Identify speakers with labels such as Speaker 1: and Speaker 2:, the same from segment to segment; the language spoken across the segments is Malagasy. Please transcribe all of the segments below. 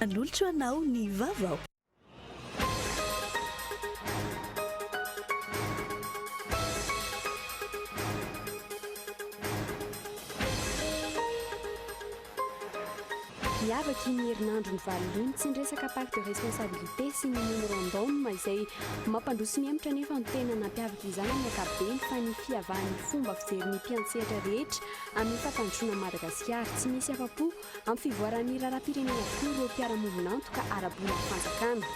Speaker 1: Manolotra ho anao ny vaovao.
Speaker 2: Hiavaka iny herinandro mivalona iny, tsy ny resaka part de responsabilité sy ny memorandum izay mampandroso ny hemotra nefa ny tena nampiavaka izany amin'ny ankapobeny fa ny fihavahan'ny fomba fijery ny mpiantsehatra rehetra amin'ny fampandrosoana an'i Madagasikara. Tsy misy afa-po Amin'ny fivoaran'ny raharaham-pirenena avokoa ireo mpiara-movon'antoka ara-bolan'ny fanjakana.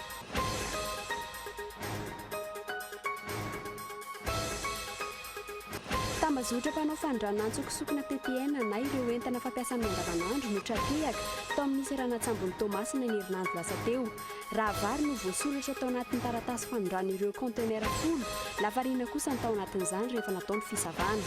Speaker 2: Tambazotra mpanao fanondranantso sokina ppn na ireo entana fampiasa amin'ny andavanandro no tra-tehaka tao amin'ny seranan-tsambon'i Toamasina ny herinandro lasa teo. Rahavary no voasoratra tao anatin'ny taratasy fanondrana ireo kaontenera folo lafarina kosa ny tao anatin'izany rehefa natao ny fisavana.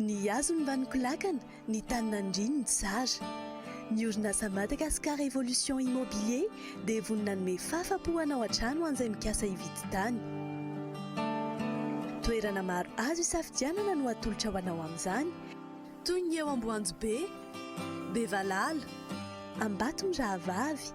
Speaker 1: Ny hazo no mba nikolakana, ny tany nandriany no tsara. Ny orinasa Madagascar Evolution Immobilier dia vonona hanome fahafa-po hanao hatrany ho an'izay mikasa hividy tany. Toerana maro azo hisafidianana no atolotra ho anao amin'izany, toy ny eo Amboanjobe, Bevalala, Ambatomirahavavy,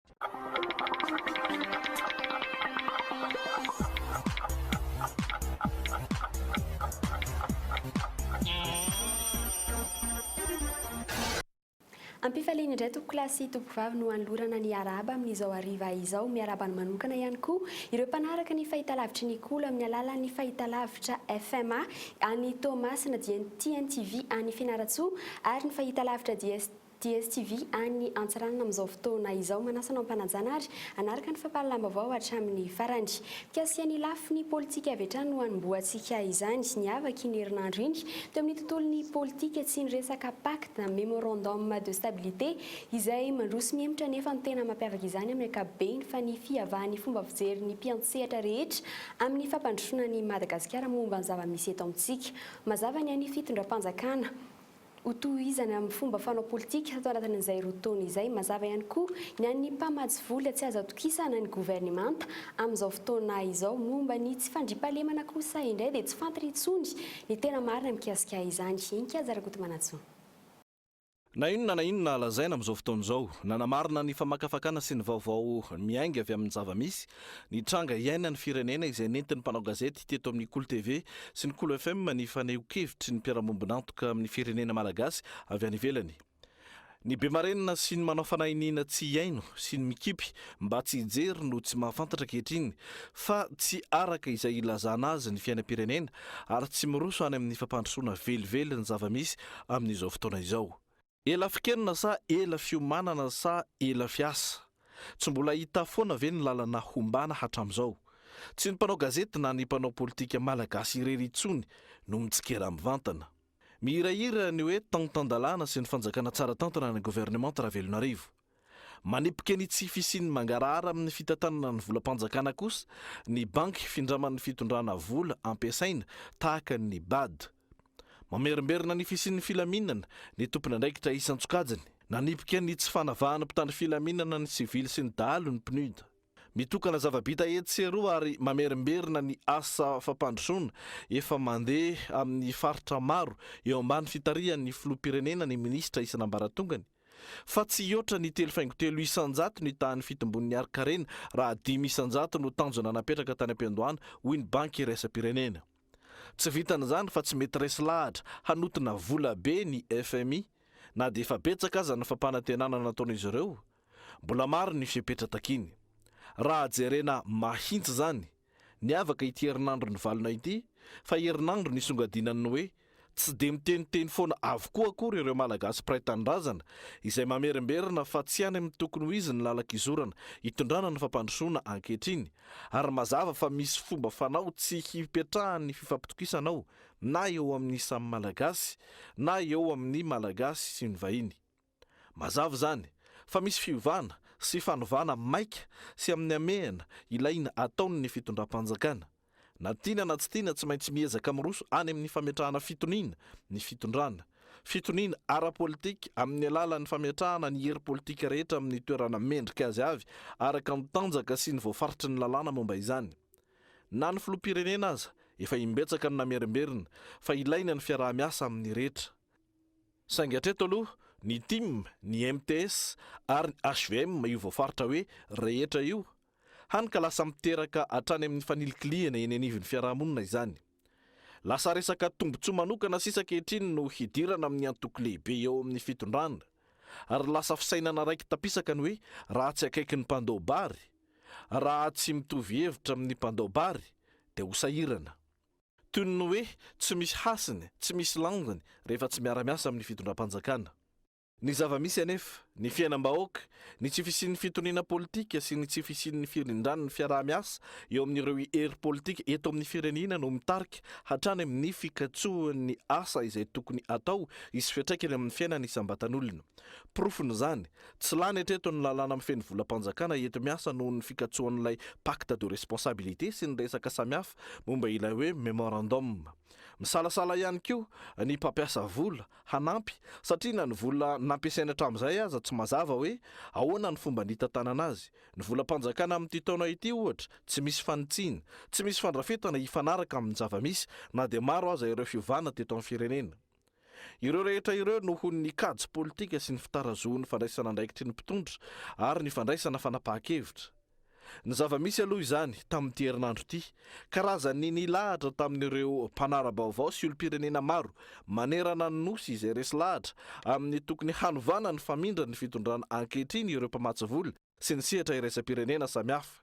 Speaker 2: Ampifaliana indray tompokolahy sy tompovavy no hanolorana ny arahaba amin'izao hariva izao. Miarahaba ny manokana ihany koa ireo mpanaraka ny fahitalavitry ny Kolo amin'ny alalan'ny fahitalavitra FMA any Toamasina, dia ny TNTV any Fianarantsoa ary ny fahitalavitra DSTV. DSTV any Antsiranana amin'izao fotoana izao manasa anao ampanajana ary hanaraka ny fampahalalam-baovao hatramin'ny farany. Mikasika ny lafiny politika avy hatrany no hanombohantsika izany. Niavaka iny herinandro iny teo amin'ny tontolon'ny politika tsy ny resaka pacte na memorandum de stabilité izay mandroso mihemotra nefa ny tena mampiavaka izany amin'ny ankapobeny fa ny fihavahan'ny fomba fijerin'ny mpiantsehatra rehetra amin'ny fampandrosoana an'i Madagasikara momba ny zava-misy eto amintsika. Mazava ny an'ny fitondram-panjakana. ho tohizana amin'ny fomba fanao politika tato anatin'izay roa taona izay. Mazava ihany koa ny an'ny mpamatsy vola tsy azo atokisana ny governemanta amin'izao fotoana izao. Momba ny tsy fandriampahalemana kosa indray dia tsy fantatra intsony ny tena marina mikasika izany. Inkajy Rakotomanantsoa.
Speaker 3: Na inona na inona lazaina amin'izao fotoana izao, nanamarina ny famakafakana sy ny vaovao miainga avy amin'ny zava-misy Ny tranga iainan'ny firenena izay nentin'ny mpanao gazety teto amin'ny Kolo TV sy ny Kolo FM ny fanehoan-kevitry ny mpiara-miombon'antoka amin'ny firenena malagasy avy any ivelany. Ny be marenina sy ny manao fanahy iniana tsy hihaino sy ny mikipy mba tsy hijery no tsy mahafantatra ankehitriny fa tsy araka izay ilazana azy ny fiainam-pirenena ary tsy miroso any amin'ny fampandrosoana velively ny zava-misy amin'izao fotoana izao. Ela fikenona sa ela fiomanana sa ela fiasa? Tsy mbola hita foana ve ny lalana hombana hatramin'izao? Tsy ny mpanao gazety na ny mpanao politika malagasy irery intsony no mitsikera mivantana. Mihirahira ny hoe tan-tan-dalàna sy ny fanjakana tsara tantana ny governemanta Ravelonarivo. Manipika ny tsy fisian'ny mangarahara amin'ny fitantanana ny volam-panjakana kosa ny banky findraman'ny fitondrana vola ampiasaina tahaka ny bad. Mamerimberina ny fisian'ny filaminana ny tompon'andraikitra isan-tsokajiny. Nanipika ny tsy fanavahan'ny mpitandro filaminana ny sivily sy ny dahalo ny PNUD. Mitokana zava-bita etsy sy eroa ary mamerimberina ny asa fampandrosoana efa mandeha amin'ny faritra maro eo ambany fitarihan'ny filoham-pirenena ny minisitra isan'ambaratongany, fa tsy hihoatra ny telo faingo telo isan-jato ny tahan'ny fitombon'ny harin-karena raha dimy isan-jato no tanjona napetraka tany am-piandohana, hoy ny Banky iraisam-pirenena. Tsy vitan'izany fa tsy mety resy lahatra hanotona vola be ny fmi na dia efa betsaka aza ny fampanantenana nataon'izy ireo. Mbola maro ny fepetra takiny. Raha jerena mahintsy izany, Niavaka ity herinandro nivalona ity fa herinandro nisongadinan'ny hoe tsy dia miteniteny foana avokoa akory ireo Malagasy mpiray tanindrazana izay mamerimberina fa tsy any amin'ny tokony ho izy ny lalan-kizorana itondrana ny fampandrosoana ankehitriny ary mazava fa misy fomba fanao tsy hipetrahan'ny fifampitokisana ao na eo amin'ny samy Malagasy na eo amin'ny Malagasy sy ny vahiny. Mazava izany fa misy fiovana sy fanovana maika sy amin'ny hamehana ilaina ataon' ny fitondram-panjakana. Na tiana na tsy tiana tsy maintsy miezaka miroso any amin'ny fametrahana fitoniana ny fitondrana. Fitoniana ara-politika amin'ny alalan'ny fametrahana ny hery politika rehetra amin'ny toerana mendrika azy avy araka ny tanjaka sy ny voafaritry ny lalàna momba izany. Na ny filoham-pirenena aza efa imbetsaka no namerimberina fa ilaina ny fiaraha-miasa amin'ny rehetra. Saingy hatreto aloha, ny tim, ny mts ary ny hvm io voafaritra hoe rehetra io, hany ka lasa miteraka hatrany amin'ny fanilikilihana eny anivon'ny fiarahamonina izany. Lasa resaka tombontsoa manokana sisa ankehitriny no hidirana amin'ny antoko lehibe eo amin'ny fitondrana, ary lasa fisainana raiki-tapisaka ny hoe raha tsy akaiky ny mpandao bary, raha tsy mitovy hevitra amin'ny mpandao bary, dia ho sahirana. toy ny hoe tsy misy hasiny, tsy misy langony rehefa tsy miara-miasa amin'ny fitondram-panjakana. Ny zava-misy anefa, ny fiainam-bahoaka, ny tsy fisian'ny fitoniana politika sy ny tsy fisian'ny firindran'ny fiaraha-miasa eo amin'ireo hery politika eto amin'ny firenena no mitarika hatrany amin'ny fikatsoan'ny asa izay tokony atao hisy fiantraikany amin'ny fiainana isam-batan'olona. Porofon'izany, Tsy lany hatreto ny lalàna mifehy ny volam-panjakana enti-miasa noho ny fikatsoan'ilay pacte de responsabilité sy ny resaka samihafa momba ilay hoe memorandum. Misalasala ihany koa ny mpampiasa vola hanampy satria na ny vola nampiasainy hatramin'izay aza tsy mazava hoe ahoana ny fomba nitantanana azy. Ny volam-panjakana amin'ity taona ity ohatra tsy misy fanitsiana, tsy misy fandrafetana hifanaraka amin'ny zava-misy na dia maro aza ireo fiovana teto amin'ny firenena. Ireo rehetra ireo noho ny kajy politika sy ny fitarazohan'ny fandraisana andraikitry ny mpitondra ary ny fandraisana fanapahan-kevitra. Ny zava-misy aloha izany, tamin'ity herinandro ity, karazan'ny nilahatra tamin'ireo mpanara-baovao sy olom-pirenena maro manerana ny Nosy izay resy lahatra amin'ny tokony hanovana ny famindran'ny fitondrana ankehitriny ireo mpamatsy vola sy ny sehatra iraisam-pirenena samihafa.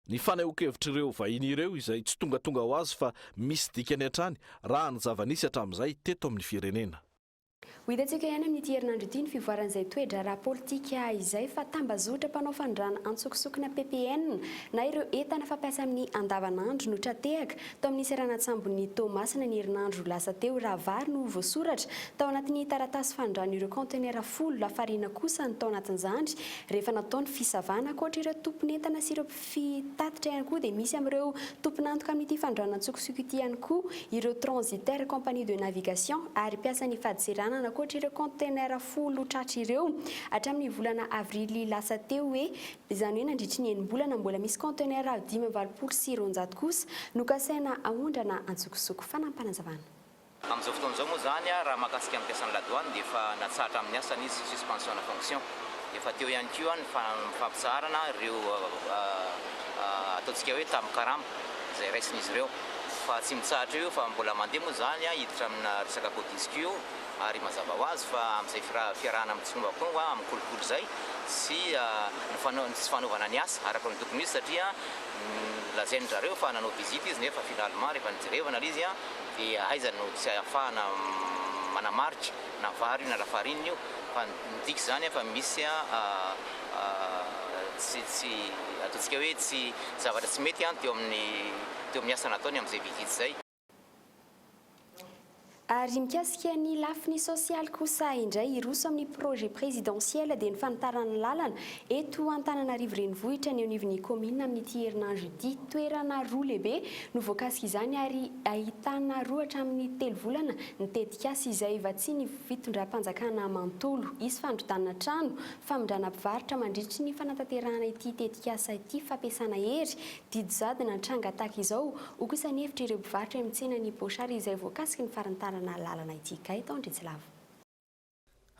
Speaker 3: Ny fanehoan-kevitr'ireo vahiny ireo izay tsy tongatonga ho azy fa misy dikany hatrany raha ny zava-nisy hatramin'izay teto amin'ny firenena. Ho hitantsika
Speaker 2: ihany amin'ity herinandro ity ny fivoaran'izay toe-draharaha politika izay fa tambazotra mpanao fanondrana antsokosokina ppn na ireo entana fampiasa amin'ny andavanandro no tra-tehaka tao amin'ny seranan-tsambon'i Toamasina ny herinandro lasa teo raha vary no voasoratra tao anatin'ny taratasy fanondran'ireo kaontenera folo lafarina kosa ny tao anatin'izany Rehefa natao ny fisavana, ankoatra ireo tompon'entana sy ireo mpitatitra ihany koa dia misy amin'ireo tompon'antoka amin'ity fanondranantsokosoko ity ihany koa ireo transitaires, compagnies de navigation ary mpiasan'ny fadintseranana ankoatra ireo container folo tratra ireo hatramin'ny volana avrily lasa teo hoe izany hoe nandritry ny enim-bolana mbola misy container dimy amby valopolo sy roanjato kosa no kasaina aondrana antsokosoko. Fanampinazavana. Amin'izao fotoana
Speaker 4: izao moa izany, raha mahakasika ny mpiasan'ny la douane dia efa natsahatra amin'ny asany izy, suspension de fonction. Efa teo ihany koa ny fampitsaharana ireo ataontsika hoe tamin'ny karama izay raisin'izy ireo. Fa tsy mitsahatra eo io fa mbola mandeha moa izany hiditra amina resaka codisq io ary mazava ho azy fa amin'izay fiarahana amin'ny tsongakonga amin'ny kolikoly izay sy ny tsy fanaovana ny asa araka ny tokony ho izy satria lazain-dry zareo fa nanao visite izy nefa finalement rehefa nijerevana ilay izy Dia aiza no tsy ahafahana manamarika na vary io na lafarinina io fa midika izany an fa misy tsy ataontsika hoe tsy zavatra tsy mety an teo amin'ny teo amin'ny asa nataony amin'izay vididy izay.
Speaker 2: Ary mikasika ny lafiny sosialy kosa indray hiroso amin'ny projet présidentiel dia ny fanitarana ny lalana Eto Antananarivo Renivohitra, ny anivon'ny kaominina amin'ity herinandro ity, toerana roa lehibe no voakasik'izany ary ahitana roa hatramin'ny telo volana ny tetikasa izay vatsian'ny fitondram-panjakana manontolo. Hisy fandrodanana trano, famindrana mpivarotra mandritry ny fanatanterahana ity tetikasa ity, fampiasana hery, didy jadona nitranga tahaka izao, ho kosa ny hevitr'ireo mpivarotra eny amin'ny tsenan'i Bochard izay voakasiky ny farantarana lalana ity. Gaëtan Andriantsylava.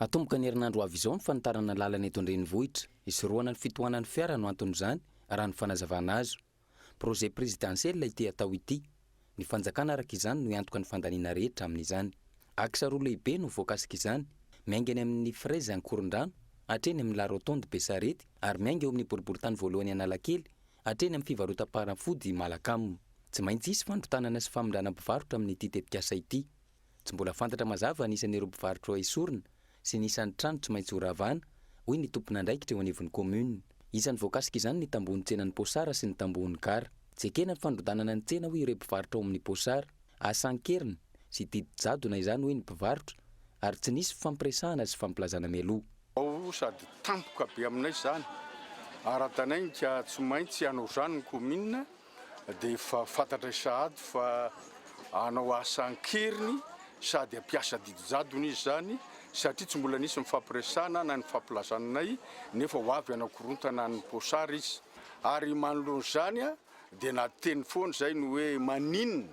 Speaker 5: Hatomboka ny herinandro ho avy izao ny fanitarana lalana eto an-drenivohitra. Hisorohana ny fitohanan'ny fiara no anton'izany, raha ny fanazavana azo. Projet prezidansiela ity atao ity. Ny fanjakana araka izany no hiantoka ny fandaniana rehetra amin'izany. Axe roa lehibe no voakasika izany. Miainga eny amin'ny Fraise Ankorondrano, hatreny amin'ny La Rotonde Besarety ary miainga eo amin'ny boriborintany voalohany Analakely, hatreny amin'ny fivarotam-panafody Malacam. Tsy maintsy hisy fanontanana sy famindrana mpivarotra amin'ity tetikasa ity. Tsy mbola fantatra mazava ny isan'ireo mpivarotra esorina sy ny isan'ny trano tsy maintsy horavana, hoy ny tompon'andraikitra eo anivon'ny kaominina. Isan'ny voakasika izany ny tambohon'ny tsenan'i Posara sy ny tambohon'ny gara. Tsy ekena ny fandrodanana ny tsena hoy ireo mpivarotra ao amin'ny Posara. Asa an-keriny sy didy jadona izany hoy ny mpivarotra ary tsy nisy fifampiresahana sy fifamplazana mialoha. Ao sady
Speaker 6: tampoka be aminay izany. Ara-danainika tsy maintsy hanao izany ny kaominina dia efa fantatray sahady fa hanao asa an-keriny sady hampiasa didijadona izy izany satria tsy mbola nisy nifampiresahana na nifampilazana anay nefa ho avy hanakorontana an'ny posary izy. Ary manoloana izany dia nateny foana izay ny hoe maninona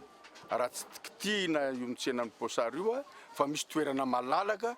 Speaker 6: raha tsy kitihina io tsenan'ny posary io fa misy toerana malalaka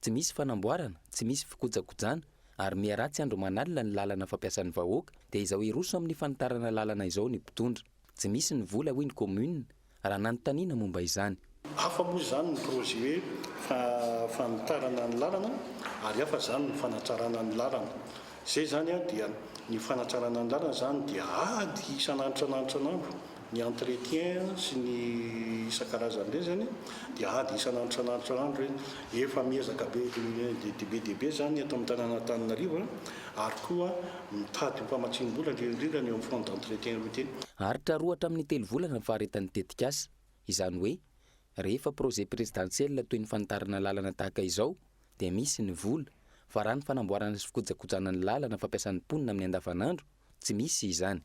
Speaker 5: Tsy misy fanamboarana, tsy misy fikojakojana ary miha ratsy andro aman'alina ny lalana fampiasan'ny vahoaka dia izao hiroso amin'ny fanitarana lalana izao ny mpitondra. Tsy misy ny vola hoy ny commune raha nanontaniana momba izany. Hafa moa izany
Speaker 7: ny projet hoe fanitarana ny lalana ary hafa izany ny fanatrarana ny lalana. Izay izany dia ny fanatrarana ny lalana izany dia ady isan'andro isan'andro isan'andro Ny entretien sy ny isan-karazany ireny izany dia ady isan'andro isan'andro isan'andro hoe efa miezaka be dia be dia be izany eto amin'ny tanànan'Antananarivo ary koa mitady ho mpamatsiam-bola indrindra indrindra ny eo amin'ny fonds d'entretien routier. Haharitra roa hatramin'ny
Speaker 5: telo volana ny faharetan'ny tetikasa. Izany hoe rehefa projet prezidansiela toy ny fanitarana lalana tahaka izao dia misy ny vola fa raha ny fanamboarana sy fikojakojana ny lalana fampiasan'ny mponina amin'ny andavanandro tsy misy izany.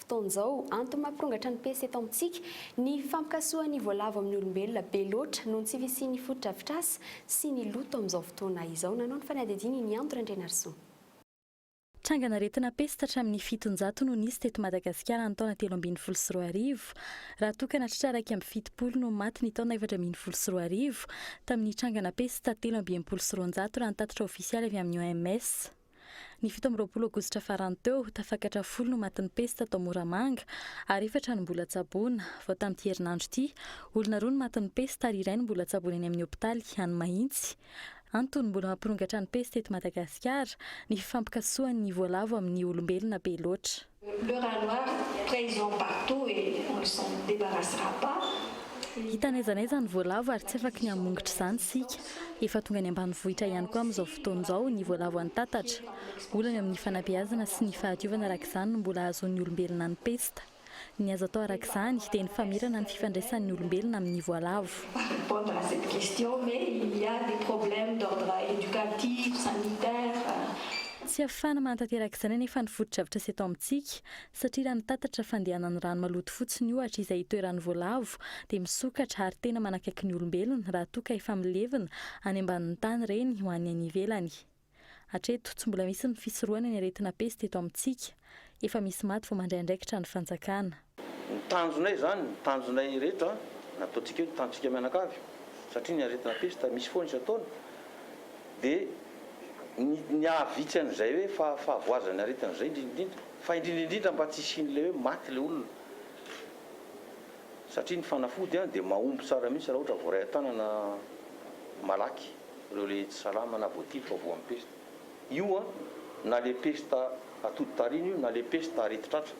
Speaker 2: fotoana izao. Antony mampirongatra ny PC eto amintsika, ny fampikasohan'ny voalavo amin'ny olombelona be loatra noho ny tsy fisian'ny fotodrafitrasa sy ny loto amin'izao fotoana izao. Nanao ny fanadihadiana i Nianto Randrianarison.
Speaker 8: Trangan'aretina pesta hatramin'ny fitonjato no nisy teto Madagasikara ny taona telo ambin'ny folo sy roa arivo. Raha toa ka natritra iraika amby fitopolo no maty ny taona efatra ambin'ny folo sy roa arivo, tamin'ny trangana pesta telo amby enimpolo sy roanjato raha ny tatitra ofisialy avy amin'ny OMS. Ny fito amby roapolo aogositra farany teo, tafakatra folo no matin'ny pesta tao Moramanga, ary efatra no mbola tsaboina. Vao tamin'ity herinandro ity, olona roa no matin'ny pesta ary iray no mbola tsaboina eny amin'ny hopitaly any Mahitsy. Antony mbola mampirongatra ny pesta eto Madagasikara, ny fifampikasohan'ny voalavo amin'ny olombelona be loatra. Le rat noir
Speaker 9: présent partout et on ne s'en débarrassera pas. Hita n'aiza
Speaker 8: n'aiza ny voalavo ary tsy afaky ny hamongotra izany isika. Efa tonga any ambanivohitra ihany koa amin'izao fotoana izao ny voalavo an-tatatra. Olana eo amin'ny fanabeazana sy ny fahadiovana araka izany no mbola hahazoan'ny olombelona ny pesta. Ny azo atao araka izany dia ny famerana ny fifandraisan'ny olombelona amin'ny voalavo. Va répondre à cette
Speaker 9: question mais il y a des problèmes d'ordre éducatif, sanitaire, Tsy
Speaker 8: afahana manatanteraka izany anefa ny fotodrafitra sy eto amintsika, satria raha ny tatatra fandehanan'ny rano maloto fotsiny ohatra izay itoeran'ny voalavo dia misokatra ary tena manakaiky ny olombelona raha toa ka efa milevina any ambanin'ny tany ireny ho any any ivelany. Hatreto, tsy mbola misy ny fisorohana ny aretina pesta eto amintsika. Efa misy maty vao mandray andraikitra ny fanjakana. Ny tanjonay
Speaker 10: izany, ny tanjonay ireto an, nataontsika io ny tanjontsika mianakavy, satria ny aretina pesta misy foana isan-taona, dia ny ny hahavitsy an'izay hoe fa fahavoazan'ny aretina izay indrindra indrindra, fa indrindra indrindra mba tsy hisian'ilay hoe maty ilay olona, satria ny fanafody an dia mahomby tsara mihitsy raha ohatra voaray an-tanana malaky ireo ilay tsy salama na voatifo fa voan'ny pesta. Io an, na le pesta atody tarina io na le pesta arety tratra.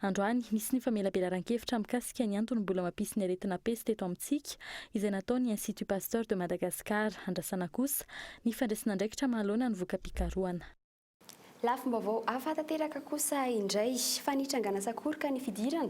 Speaker 10: Androany,
Speaker 8: nisy ny famelabelaran-kevitra mikasika ny antony mbola mampisy ny aretina pesta eto amintsika, izay nataon'ny Institut Pasteur de Madagascar. Andrasana kosa ny fandraisan'andraikitra mahaloana ny voka-pikarohana.
Speaker 2: Lafim-baovao hafa tanteraka kosa indray, fa nitrangana sakoroka ny fidirana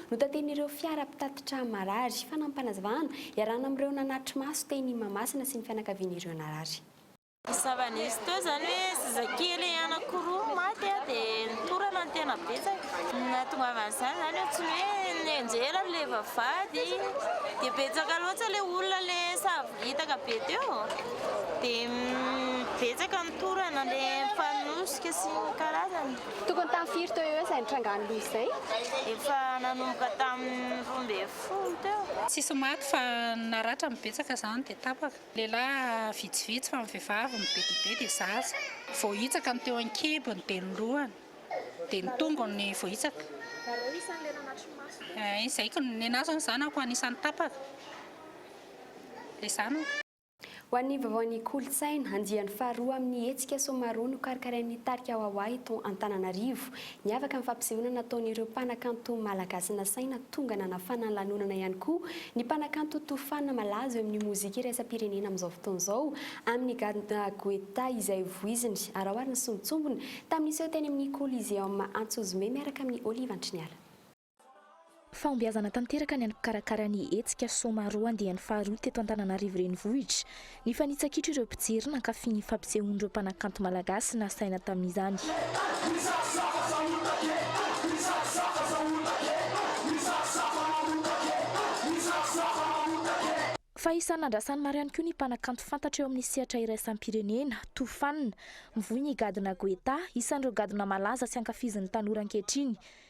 Speaker 2: Notatehin'ireo fiara mpitatitra marary. Fanampim-panazavana, iarahana amin'ireo nanatri-maso teny Mahamasina sy ny fianakavian'ireo narary. Zava-nisy
Speaker 11: teo izany hoe zazakely anankiroa maty dia nitorana ny tena betsaka. Ny nahatongavan'izany izany eo tsy ny hoe nianjera ilay vavahady dia betsaka loatra ilay olona ilay sahavo hitaka be teo dia betsaka nitorana ilay mpanosika sy ny karazany. Tokony tamin'ny firy
Speaker 2: teo eo izay nitrangan'ny loza izay? Efa
Speaker 11: nanomboka tamin'ny roa ambin'ny folo teo. Tsisy maty fa
Speaker 12: ny naratra no betsaka izany dia tapaka. Lehilahy vitsivitsy fa ny vehivavy ny be dia be dia zaza. Vao hitsaka ny teo an-kibony dia ny lohany dia ny tongony vao hitsaka. Nareo isan'ny le nanatri-maso? Ee, izay ko ny anah izao ny zanako anisan'ny tapaka. Ilay zanako. Ho an'ny
Speaker 2: vaovaon'ny kolontsaina, andiany faharoa amin'ny hetsika Somaroho nokarakarain'ny tarika Wawa eto Antananarivo. Niavaka ny fampisehoana nataon'ireo mpanakanto malagasy nasaina tonga nanafana ny lanonana ihany koa ny mpanakanto Tofana malaza eo amin'ny mozika iraisam-pirenena amin'izao fotoana izao amin'ny gadona Guetta izay voiziny araoary nisongotsongona tamin'ny seho teny amin'ny Coliseum Antsozome miaraka amin'i Olive Antriniala.
Speaker 13: Fahombiazana tanteraka ny an'ny mpikarakara ny hetsika Soma roa andiany faharoa teto Antananarivo Renivohitra. Nifanitsakitro ireo mpijery nankafy ny fampisehoan'ireo mpanakanto malagasy nasaina tamin'izany. Fa isan'ny nandrasany maro ihany koa ny mpanakanto fantatra eo amin'ny sehatra iraisam-pirenena, toa fanina. Mivoy ny gadona Guetta, isan'ireo gadona malaza sy ankafizin'ny tanora ankehitriny.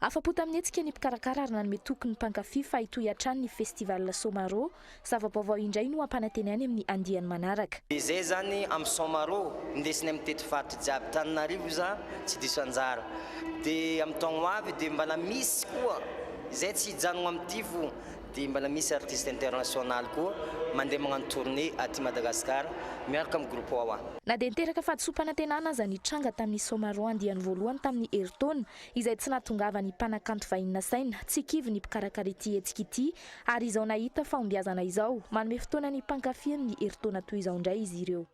Speaker 14: Afa-po tamin'ny
Speaker 13: hetsika ny mpikarakara ary nanome toky ny mpankafy fa hitohy hatrany ny Festival Somaro. Zava-baovao indray no hampanantena any amin'ny andiany manaraka. Dia izay izany
Speaker 15: amin'ny Somaro, indesiny amin'ny tetifaritry jiaby Tananarivo za tsy diso anjara. Dia amin'ny taogno ho avy dia mbala misy koa izay tsy hijanogno amin'ny tivo dia mbala misy artiste international koa mandeha magnano tournée aty Madagascar miaraka amin'ny groupe Wawa. Na dia niteraka
Speaker 13: fahadisoam-panantenana aza ny tranga tamin'ny Somaro andiany voalohany tamin'ny herintaona, izay tsy nahatongavan'ny mpanakanto vahiny nasaina tsy kivy ny mpikarakara ity hetsika ity ary izao nahita fahombiazana izao, manome fotoana ny mpankafy amin'ny herintaona toy izao indray izy ireo.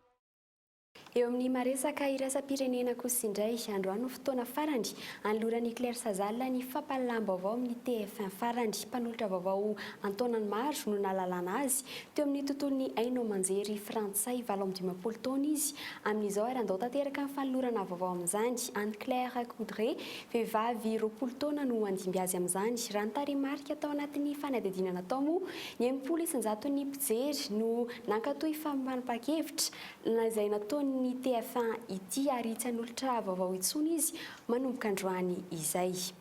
Speaker 13: Eo
Speaker 2: amin'ny maha-resaka iraisam-pirenena kosa indray, androany no fotoana farany anoloran'i Claire Sazal ny fampahalalaham-baovao amin'ny TF1 farany. Mpanolotra vaovao an-taonany maro no nahalalana azy Teo amin'ny tontolon'ny haino aman-jery frantsay, valo amby dimampolo taona izy amin'izao ary handao tanteraka ny fanolorana vaovao amin'izany. Anne Claire Coudray, vehivavy roapolo taona no handimby azy amin'izany. Raha ny tarehimarika tao anatin'ny fanadihadiana natao moa, ny enimpolo isan-jaton'ny mpijery no nankatò io famombanam-pahan-kevitra izay nataon'ny TF1 ity ary tsy hanolotra vaovao intsony izy manomboka androany izay.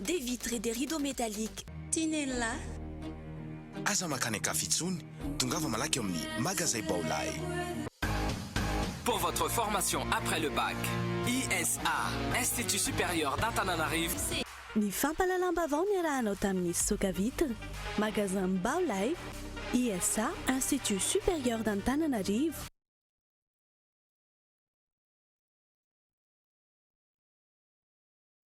Speaker 1: Des vitres et des rideaux métalliques Tinella.
Speaker 16: Aza mankany an-kafa intsony, tongava malaky ao amin'ny Magazay Baolay.
Speaker 17: Pour votre formation après le bac, ISA, Institut Supérieur d'Antananarivo, Ny
Speaker 1: fampahalalam-baovao niarahanao tamin'ny Fisoka Vitres, Magasin Baolay, ISA, Institut Supérieur d'Antananarivo.